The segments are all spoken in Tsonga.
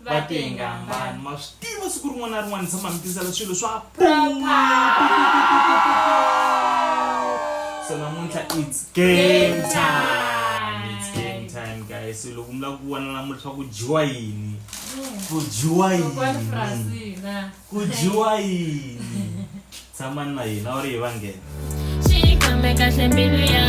va tengi hambani ma swi tiva siku rin'wana na rin'wana tshama mi tisela swilo swa so namuntlha its game time its game time guys so loko mi lava ku vona namuntlha ku dyiwa yini ku dyiwa yini ku dyiwa yini tshamani na hina u ri hi va nghena xikhombe kahle mbilu ya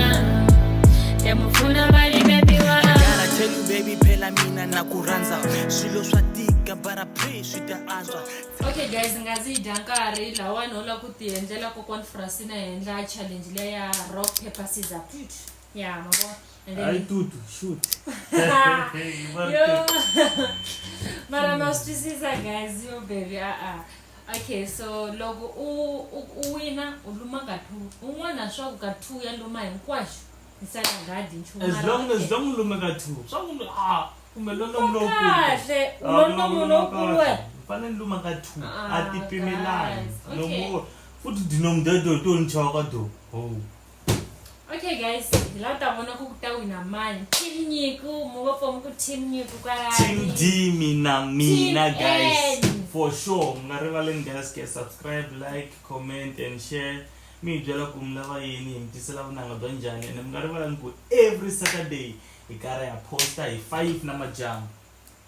ya mupfuna va limetiwa Gotta tell you baby phela mina na ku rhandza swilo swa tika bara pray swi ta antswa okay guys nga ndzi yi dya nkarhi lawani u lava ku ti endlela kokwan frasina henhla challenge leya rock paper scissor ya my boss and then he yo mara ma swi twisisa guys yo baby a-a okay so loko u u- u wina u luma ka two un'wana swa ku ka two ya luma hinkwaxo hi sala nghadi nchumu as mara long okay. as long u lumeka two swa ku ah kumbe lonomu lowukulu kahle Ah, ulonomu lonomu lowukulu lowukulu. wena U fanele ni luma ka two Ah, a ti pimelani guys, no okay. more futhi dinomu dedo to ni chava ka do ho okay guys hi la ta vona ku ku ta wina mani team nyiku mu va fomi ku team nyiku kwalateam d mina mina guys for sure mi nga rivaleni guys ke subscribe like comment and share mi hi byela ku mi lava yini hi mi tisela vunanga bya njhani ene mi nga rivalani ku every saturday hi karhi ha posta hi five na majamu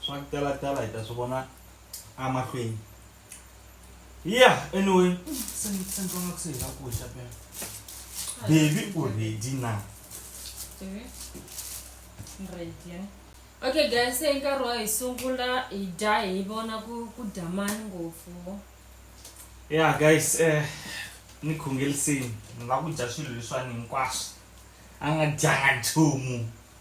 swa ku tala tala hi ta swi vona emahlweni ya anyway sendonga ku se hi nga ku xa pena baby u ready na okay guys se nkarhi wa hi sungula hi dya hi vona ku ku dya mani ngopfu ya guys eh ni khongelisini ni lava ku dya swilo leswiwani hinkwaswo a nga dyanga nchumu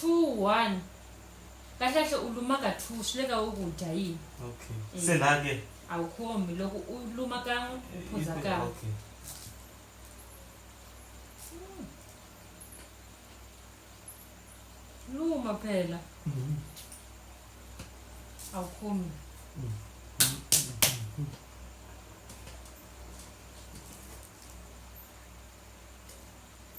two one kahle kahle u luma ka two swi le ka wo ku dya yini okay Eh. se la ke a wu khomi loko u luma kan'we u phuza kan'we okay luma phela Mhm. a wu khomi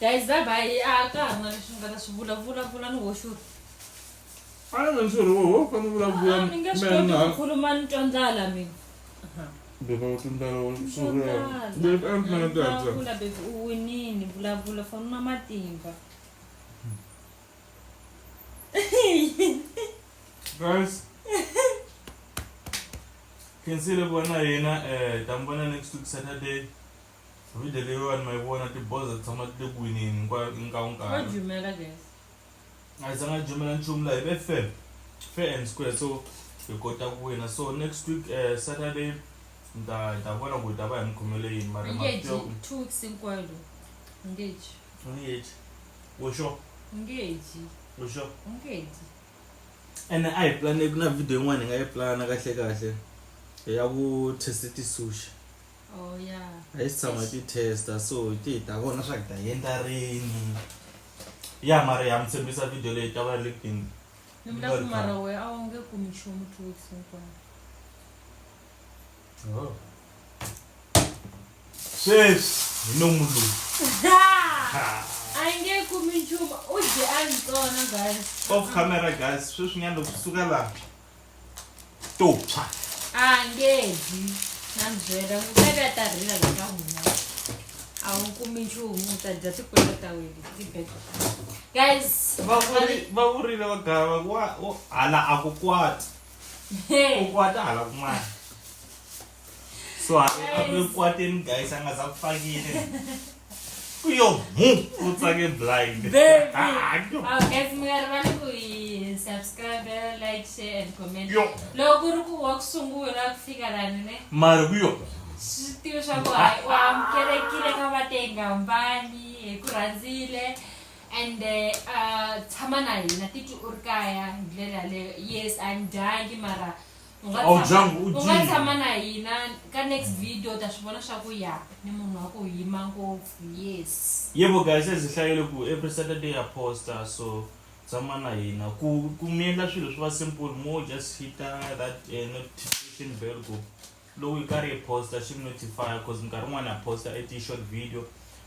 guys bye bye a ka ha ri na leswi ni nga ta swi vulavula vula ni hoxuri a ni vona swi ri woho fane u vulavula Ah, ni nge swi koti ku khuluma ni twa ndlala mina beba u tindlala swi ri beba a ni fana tata Vulavula, baby u winini vulavula fana na matimba guys khensile vona yena um ta mi vona next week saturday video leyiwani ma yi vona tiboza ti tshama ti le ku winini hinkwayo inkawu nkarhi a yi zanga jumela nchumu laha hi fair fair and square so hi kota ku wina so next week uh, saturday ni ta hi ta vona ku hi ta va hi mi khomele yini mara two weeks hinkwayo lo engage engage wo sure engage wo sure engage ene a hi planeki na video yin'wana hi nga yi plana kahle kahle ya ku test tisushi oh ya a yi si tshama ti testa so hi ti hi ta vona swa ku ta yendla rini ya mara ya mi tshembisa video leyi ta va ri le kutini ni vula ku mara we a wu nge kumi nchumu two weeks hinkwayo oh. sweswi hi nomu lowu off camera guys sweswinyana loko swi suka laha to tshwa a nge dyi na byela ku ta ka ta rila la ka huma a wu kumi nchumu ta dya tikwela ta wena tibeko guys va vurile va gava wa hala a ku kwati ku kwata hala kun'wana so akukwateni guys angaza kufakile kuyo mu utsake blind lokuri ku wa kusungula kufika lani ne mari kuyo switiva swa ku hayi u amukelekile ka vatenga mbani hi ku rhandzile and eh, ah, tshama na hina titwi u ri kaya hi ndlela leyo yes a ni dyangi mara U nga Awu tshama- jangu u u nga dyile. tshama na hina ka next video u ta swi vona swa ku ya ni munhu wa ku yima ngopfu yes yebo guys ezihlayele ku every saturday ya posta so tshama na hina ku ku mi endla swilo swi va simple mo just hita that eh, notification bell ku lowu yi karhi yi posta xi mi notify cause minkarhi yin'wana ya posta i ti-short video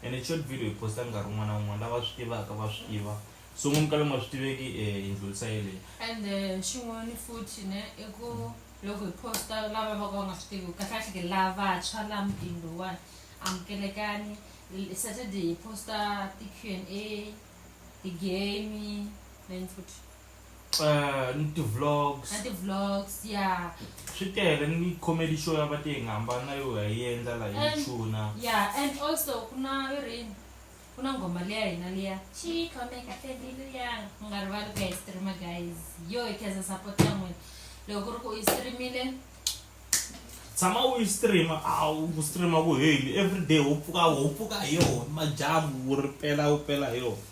and short video yi posta nkarhi wun'wana na wun'wana lava swi tivaka va swi tiva so n'wi mukala nga swi tiveki um eh, yindlu lisa yeleyo and eh, xin'wana futhi ne i ku loko hi posta lava va ka va nga swi tivi kahlekahle ke lavantshwa la mutini lowuwani amukelekani saturday hi posta ti-q and a ti-game then futhi Eh, ni ti-vlogs na ti-vlogs ya swi tele ni comedy show ya va ti hi nga hambana yo hi yendla la hi chuna ya and also ku na yo rini ku na nghoma liya hina liya xikhomekate mbilu yanga u nga rivali ku ya yi streama guys yo hi khensa support ya n'wina loko ku ri ku u yi streamile tshama u yi streama a ku streama ku heli everyday ho pfuka ho pfuka hi yona majamu wu ri pela wu pela hi yona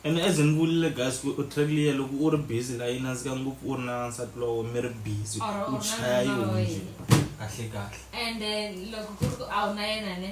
ene as ni vulile guys ku track liya loko u ri busy la yi nandzika ngopfu u ri na nsati lowo mi ri busy Or u u ri na chaya yi nuna wa hunje yena. kahle kahle ende loko ku ri ku a wu na yena ne